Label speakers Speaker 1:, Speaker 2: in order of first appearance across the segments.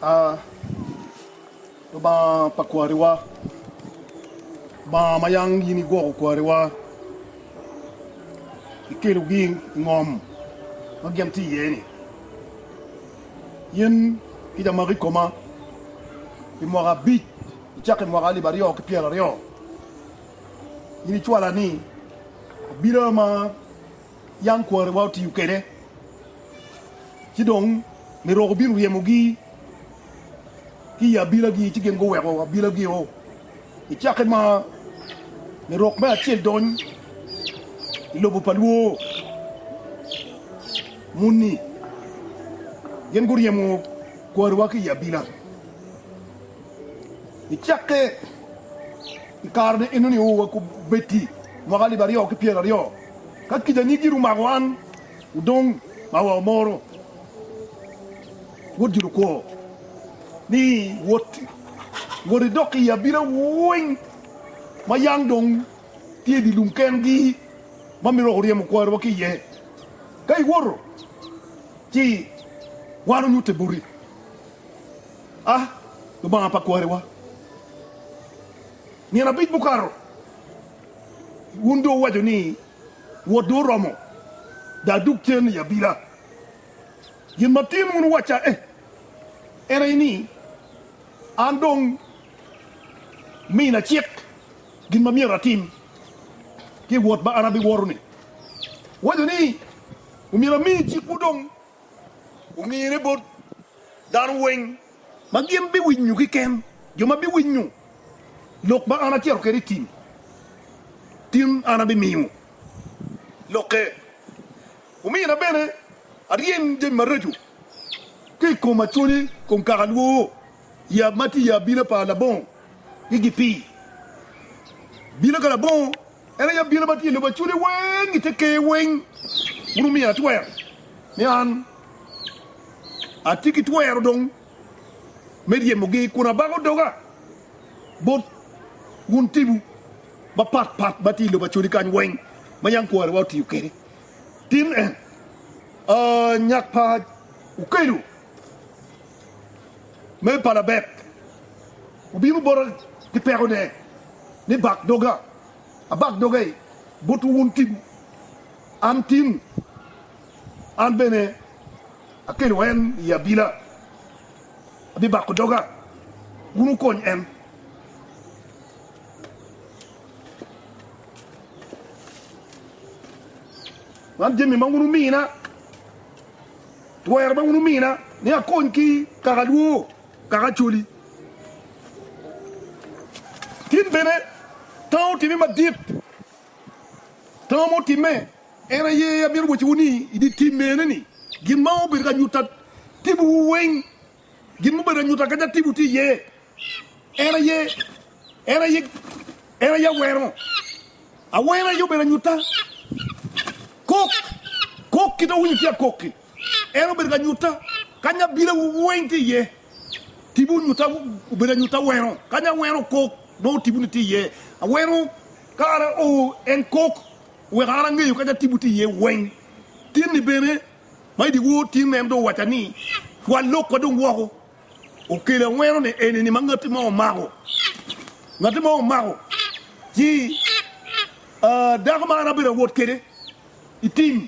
Speaker 1: A Lubanga pa kwariwa, Lubanga ma yam in igwoko kwariwa, ikelogi i ngom ma gin tye iye-ni, in kica magi i koma pi mwaka abic, icako i mwaka alip aryo ki pyeraryo, in icwala ni abila ma yam kwariwa otiyo kwede, ci dong Nirok obino ryemogi ki i abilagi, ci gin guweko abilagio. I cakke ma Nirok me acel dony i lobo pa Lwo muni, gin guryemo kwariwa ki i abila. I cakke i kare-ni enoni, owakobetti mwaka alip aryo ki pyeraryo. Ka kica ni gin omako wan odong ma wa omoro wod gin okwo ni wot wot idok i abila weng ma yang dong tye di lum ken gi ma mito wako ryemo kwari wa ki iye ka iwoto ci wan onyute boti a lubanga pa kwari wa nyen abic mukato Wun dong wuwaco ni, 'Wot dong oromo, dong adug cen i abila. Gin ma tin wun wuwacca en aye ni, 'An dong mina cik gin ma myero atim ki i wot ma an abiwoto-ni. Wuwaco ni, 'Omyero ami cikwu dong omine bot dano weng. Ma gin biwinyo kiken, jo ma biwinyo lok ma an acito kwede i tim, tin an abimiyo lokke. Omina bene aryem jami maraco ki i koma, cwonye kong kaka lwoo, yab ma tye i abina pa labongo gi gipii bino ka labongo. En aye abila ma tye i lobo acwode weng i te ker weng. Wun wumiya twero ni an atye ki twero dong me ryemogi, kun abako doga bot wun tipo mapat pat ma tye i lobo acwodi kany weng ma yam kwarewa otiyo kwede. Tin en a nyak pa okedo me palabek obino bota ki pekone. ni bak doga, abak doga i botwu wun tim, an tim, an bene akelo en i abila, abibako doga, wun wukony en. Man jami ma wun wumina, twero ma wun wumina ni akony ki kaka lwor. Kaka Acholi, tin bene tango otime madit. Tango ma otimme en aye amito wacciwu ni i dye tim mene ni gin ma obedo ka nyuta tibuwu weng, gin ma obedo ka nyuta kaca tibu tye iye, en aye, en aye, en aye aweno. Aweno aye obedo anyuta. Kok, kok kit awinyo tye akok-ki. En obedo ka nyutta kany abilawu weng tye iye. Tibu nyutta obedo anyutta aweno, kany aweno okok nongo tibu ni tye iye. Aweno ka an ao en kok weko an angeyo kanya tibu tye iye weng. Tin ni bene ma idye wor tin en dong owaca ni pwal lok wa dong woko. Okelo aweno ni eni ni ma ngati mo omako. Ngati mo omako ci dako ma an abedo awot kede itim.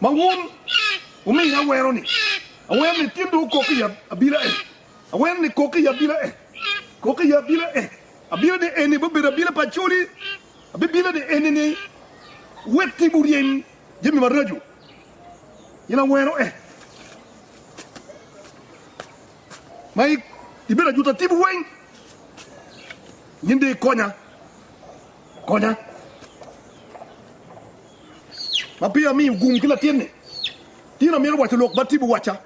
Speaker 1: Ma wun wumiyo aweno-ni, aweno ni tyen dong okok i abila en, aweno ni kok i abila en, kok i abila en, abila ni eni bibedo abila pa acoli, abibila ni eni ni wek tim wuryem jami maraco, in aweno en, ma ibedo ajuta timwu weng, nyen dong ikonya. Konya ma peya amiyo gum ki latinni. Tino mito waco lok ma Tibu wacca.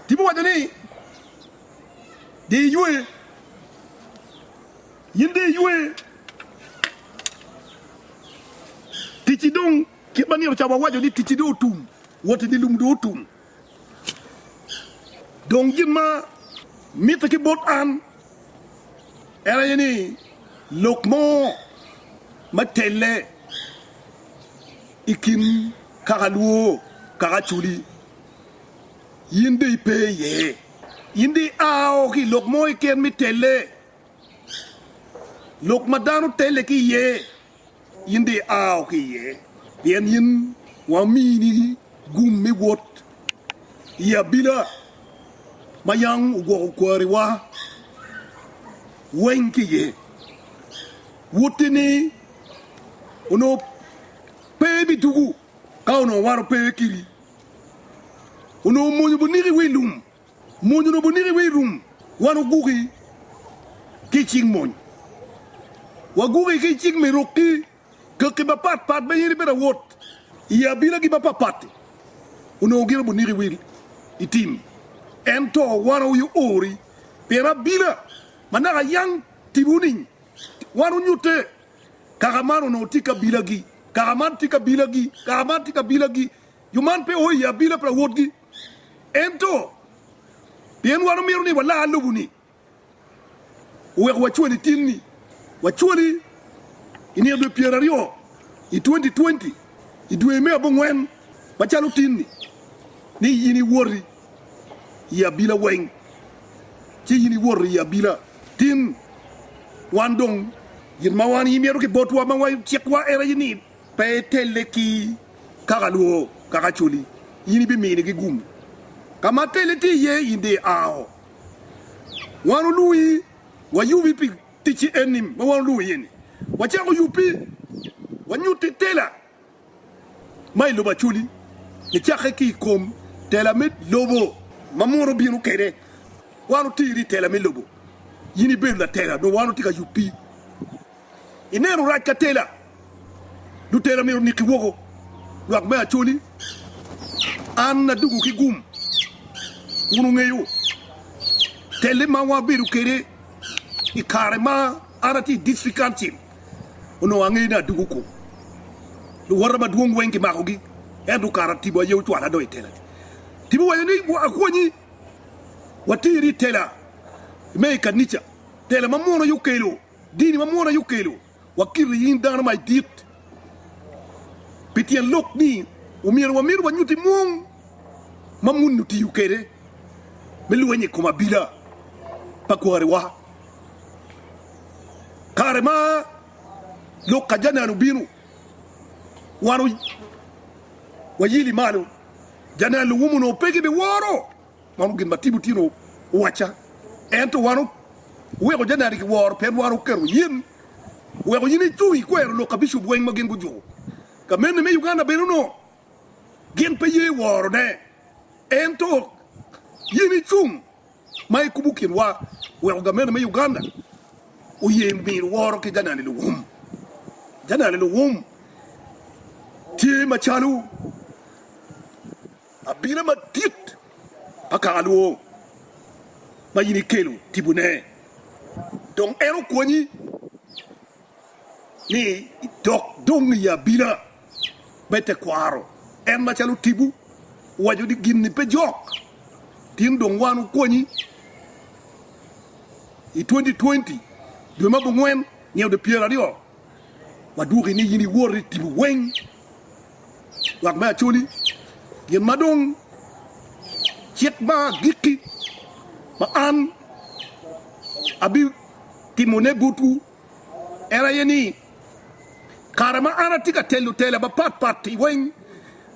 Speaker 1: Tibu waco ni, Di iywe. Yin di iywe. Ticci dong kit ma nino ca wawaco ni ticci dong otum. Woti dye lum dong otum. Dong gin ma mitte ki bot an en aye ni lok mo me telle i kin kaka lwo kaka aculi, in dong ipe iye. In dong ia o ki i lok mo keken me telle, lok ma dano telle ki iye in dong iao ki iye, pien in wa omini gum me wot i abila ma yam ogwoko kwariwa weng ki iye. Wotini onongo pe bidugu ka onongo wan ope kiri, onongo omwonyo buniki wi lum. Mony oromo niki wek irum. Wan waguki ki i cik mony. Waguki ki i cik me rok ki kaki mapat pat ma in ibedo awot i abinagi mapapatti onongo gin obi niki wek itim. Ento wan wawiyo ori pien abina ma naka yam timiwu nining? Wan wunyutte kaka man onongo tye kabilagi, kaka man tye kabilagi, kaka man tye kabilagi. Jo man pe o i abina pa lawotgi. Ento, pien wan omito ni walar lobo-ni, oweko wacwali tin-ni. Wacwali i nino dwe pyeraryo i 2020, i dwe me abongwen, macalo tin-ni, ni in iwoti i abila weng, ci in iwoto i abila. Tin, wan dong gin ma wan imito ki botwa ma wacikwa en aye ni Pe itelle ki kaka lwo kaka acoli, in ibiminigi gum. Ka ma telle tye iye, in dong iao. Wan olwongi wayubi pi ticci enni ma wan olwongi iye-ni, wacako yubbi, wanyutti tela ma i lobo acoli, nicakke ki i kom tela me lobo ma Musa obino kwede. Wan oteri i tela me lobo, in ibedo latela, dong wan watye ka yubbi Ineno rac ka tela. Lutela myero oniki woko. Lwak me Acholi, an adugo ki gum. Wun wungeyo telle ma wabedo kwede i kare ma an atye i District Council. Onongo angeyo ni adugo kwo. Luwota madwong weng kimakogi ento kara tipo aye ocwala adok i tela. Tipo owaco ni akonyi wateri i tela me i kanica, tela ma munu aye okelo. Dini ma mwono aye okelo wa kite in dano ma idit. Pi tyen lok ni omyero wamit wanyuti mwong ma muni otiyo kede me lwenyo i kom abila pa kwariwa. Kare ma lok ajanan obino, wan oyili malo, janan luwum onongo pe gibiworo. Mano gin ma Timotino owacca. Ento wan oweko janari ki woro pien wan oketo yin weko yin icung ikwero lok ka bicup weng ma gin gujur. Ka mene me Uganda bene onongo gin pe ye woro ne, ento yin icung ma ikubo kin wa weko ga mene me Uganda oye miro woro ki janari luwum. Janari luwum tye macalo. Abila madit pa kaka lwong ma in ikelo tibone, dong en okonyi ni idok dong i abila me tekwaro en macalo tibu, waco ni gin-ni pe jok, tin dong wan wukonyi i twenty twenty dwe ma abongwen nge ode pyeraryo wadwoki ni in iwor i tibu weng. Lwak me Acholi, Gin ma dong cik ma agikki ma an abitimone botwu en aye ni, kare ma an atye ka telo tela mapat pat-ti weng,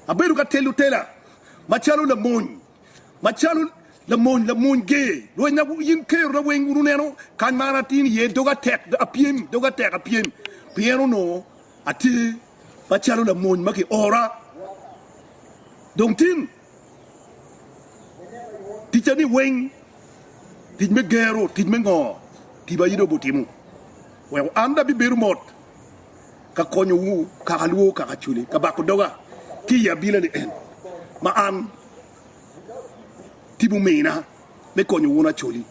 Speaker 1: abedo ka telo tela macalo lamony, macalo lamony, lamony ger lwenyna. In kerona weng wun wuneno kany ma an atini iye, doga tek apyem, doga tek apyem, pien onongo atye Macalo lamony ma kiora, dong tim ticani weng, tic me gero, tic me ngo, tiba in dong butimo, weko an dong abibedo mot ka konyowu kaka alwor kaka acwali, ka bako doga ki i abila ni en ma an tipo mina me konyo wun acwali,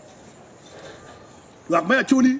Speaker 1: lwak me acwali.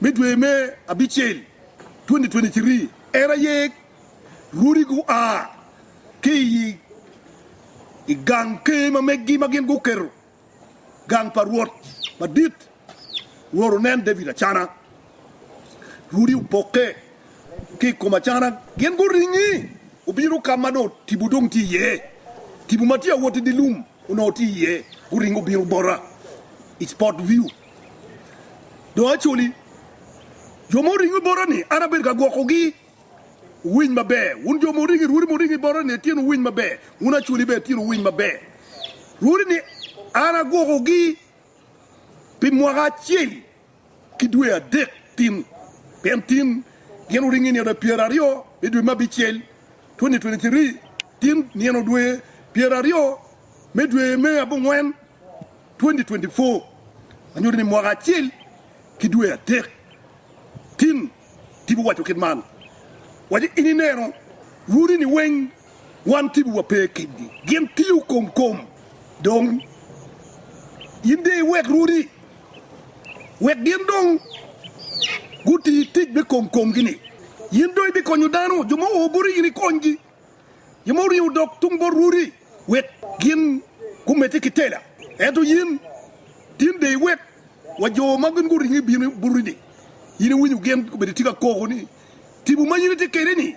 Speaker 1: me dwe me abicel 2023, en aye rwodi gua ki i gang ker ma meggi ma gin guketo gang pa rwot madit. Rwot oneno David acana, rwodi opokke ki i kom acana, gin guringi gubino ka ma dong tipo dong tye iye, tipo ma tye ka wot i dye lum. Onongo tye iye, guringo gubino bota i Spot View. Dong Acholi, jo ma oringo i bota-ni, an abedo ka gwokogi. Wuwiny maber, wun jo ma wuringo i rwodi muringo i bota-ni, Atieno wuwiny maber. Wun Acholi bene, Atieno wuwiny maber. Rwodi-ni an agwokogi pi mwaka acel. ki dwe adek tin, pien tin gin wuringo i nino pyeraryo me dwe me abicel, 2023, tin nino dwe pyeraryo me dwe me abongwen, 2024, ma nyuto ni mwaka acel ki dwe adek. Tin, tipo waco kit man, Waci in ineno uri-ni weng Wan kibiwa pe kedgi. Gin tiyo kom kom. Dong in de iwek rwodi wek gin dong guti tic me kom komgi-ni. In dong ibikonyo dano, jo ma oo boti in ikonygi, jo ma oringo odok tung bot rwodi wek gin gumedde ki tela. Ento in, tin de iwek wa jo ma gin guringo ibino boti-ni. In iwinyo gin gubedo tye ka koko ni, 'Tipo ma in itye kwede-ni,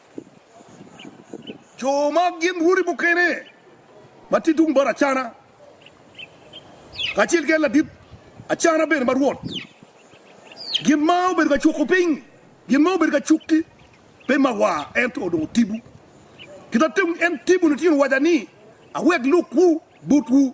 Speaker 1: Co ma gin rwodi mukene ma tye tung bot Acana, kacel ki en ladit Acana bene ma rwot, gin ma obedo ka cuko piny, gin ma obedo ka cukki, pe ma wa, ento odongo tibu. Kita tem en tibu litino waca ni, awek lukwu butwu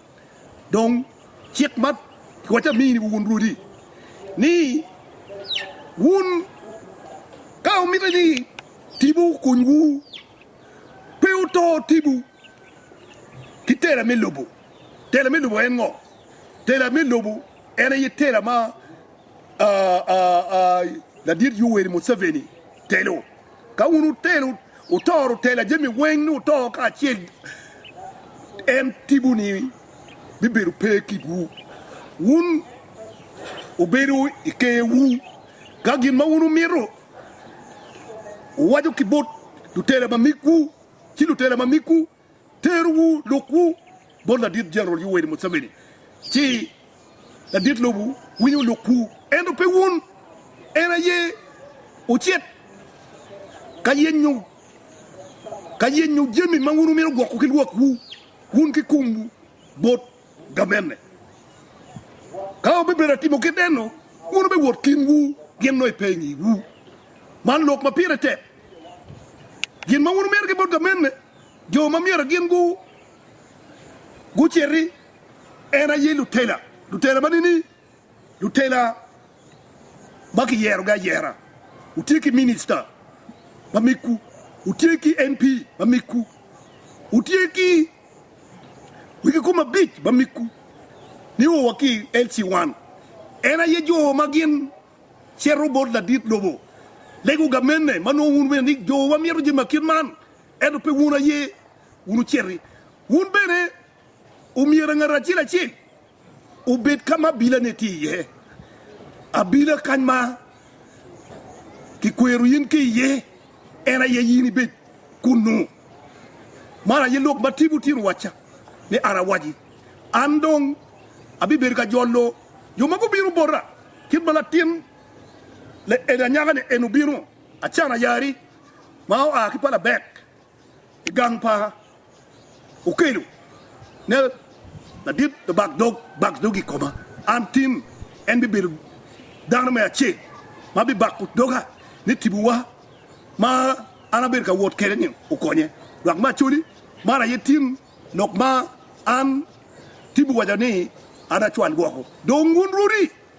Speaker 1: Dong cik ma pwocce amini wun rwodi, ni wun ka wumito ni tibu okunywu, pe wuto tibu ki tela me lobo. Tela me lobo en ngo? Tela me lobo en aye tela ma ladit Yoweri Museveni telo. Ka wun wutelo, wutoro tela jami weng ni wuto kacel, en tipo ni bibedo pe kitwu. Wun wubedo i ker wu, ka gin ma wun wumito wuwaco ki bot lutela mamigwu, ci lutela mamigwu Teruwu lukwu bot Ladit Jeneral Yoweri Museveni, ci ladit lobo winyo lukwu, ento pe wun. En aye ocit ka yenyo ka yenyo jami ma wun wumito gwoko ki lwakwu, wun ki kumwu bot ga bene. Ka wubibedo ka timo kit enno, wun wubiwot kinwu gin nongo pe i ngiwu. Man lok ma pire tek. Gin ma wun wumito ki bot ga mene, jo ma myero gin guciti en aye lutela, lutela ma nini Lutela ma kiyerogi ayera, wutye ki minista ma migwu, wutye ki MP ma migwu, wutye ki wegi kom abic ma migwu. Nio wa ki LC One, en aye jo ma gin cito bot ladit lobo, lego gamenne ma nongo wun bene ni jo wa mito jami ma kit man, ento pe wun aye wun wuciti. Wun bene. Omyero ngat acel acel obed ka ma abilane tye iye, abila kany ma kikwero in ki iye, en aye in ibed kunnu. Man aye lok ma Tim otye rwacca ni an awaci. An dong abibedo ka jolo jo ma gubino bota, kit ma latin laelda anyaka-ni en obino, acan ayari ma oa ki pa Labek. i gang pa okelo ne ladit labak dog bak dog i koma an tin en bibedo dano me acel ma bibako doga ni tibuwa ma an abedo ka wot kwede ni okonye dok me acoli man aye tin lok ma an tibu waco ni an acwal woko dong wun rwodi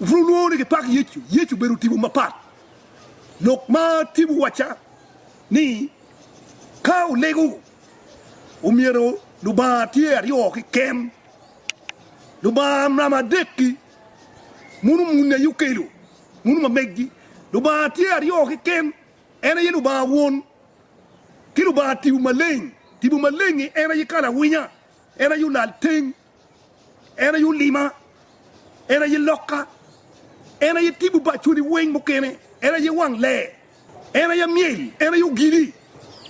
Speaker 1: Wubino nwoŋo ni gipak Yecu. Yecu obedo tipo mapat. Lok ma tipo wacca ni ka olego omyero Lubanga tye aryo keken. Lubanga namba adek-ki muno muni aye okelo, muno ma meggi. Lubanga tye aryo keken, en aye Lubanga Won ki Lubanga Tipo Maleng. Tipo Maleng-ngi en aye Kala Winya, en aye Olalteng. En aye olima, en aye lokka, en aye tipo pa cwodi weng mukene, en aye wang lee, en aye myel, en aye ogili,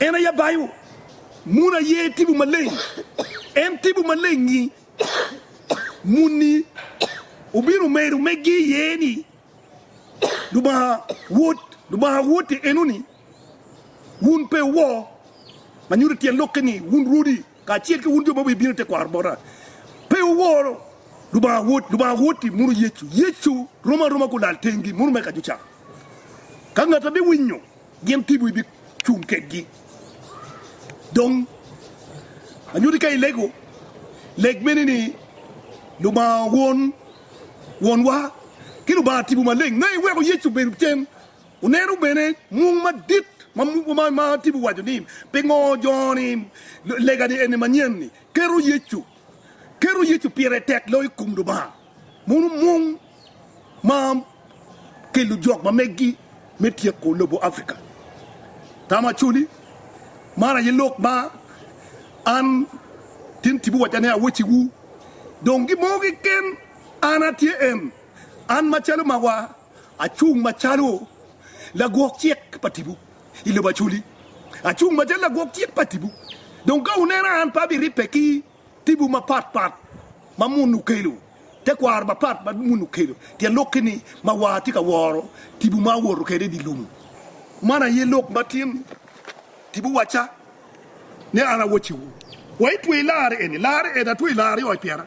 Speaker 1: en aye abayo, mun aye tipo maleng, en tipo malengngi. Munni obino medo meggi iye ni, Lubanga Wod, Lubanga Woti enoni, wun pe wuwor, ma nyuto tyen lokke ni, wun rwodi. Kacel ki wun jo ma wubibino i tekwaro bota, pe wuwor, Lubanga wot, Lubanga wot i muno Yecu. Yecu rom aroma gulal tengi muno me kajuca. Ka ngata biwinyo gin tibu ibi cung kedgi. Dong anyuti ka ilego, leg mene ni, Lubanga Won, Wonwa, ki Lubanga Tibu Maleng, ma iweko Yecu obedo cen. Wunenu bene mung madit ma tipo waco ni pingo joni legani eni manyen-ni keto Yecu keto Yecu pire tek loyo i kom Lubanga. Wunu mung ma ki lujok ma megi me tyeko lobo Africa. Tam Acholi, Man aye lok ma an tin tipo waco ni awecciwu, dong gimo keken an atye en, an macalo ma wa. Acung macalo lagwok cik pa tipo i lobo Aculi. Acung macalo lagwok cik pa tipo. Dong ka wunena, an pe abiribbe ki tipo mapat pat ma munu okelo, tekwaro mapat ma munu okelo, pien lok keni ma war tye ka woro tipo ma awoto kwede i dye lobo. Man aye lok ma tin tipo wacca, ni an awacciwu wa, Itweyo larri eni, larri eni, atweyo larri i oc pyera.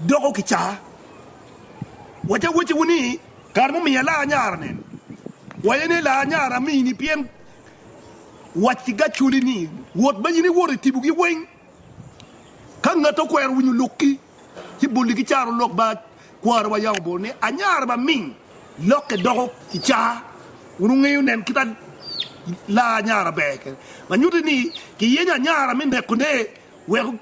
Speaker 1: Doko ki caa. Wacci awacciwu ni, kare mumiyo ilaa nyara nen, waye ni ilaa nyara amini, pien wac ki gacoli ni, wot ma in iwoto i tibogi weng. Ka ngat okwero winyo lokki, ci boli ki caro lok ba kwarowa ya obol ni, anyara ma ming, lokke doko ki caa. Wun wungeyo nen kit a laa anyara ber kede, ma nyuti ni kiyenyo anyara me neko ne weko.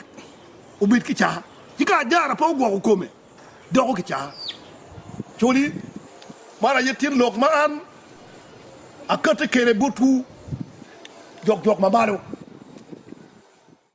Speaker 1: obed kicaa, ci ka ajara pe ogwoko kome, doko kicaa. Coli, Man aye tyen lok ma an akati kede botwu, jokjok ma malo.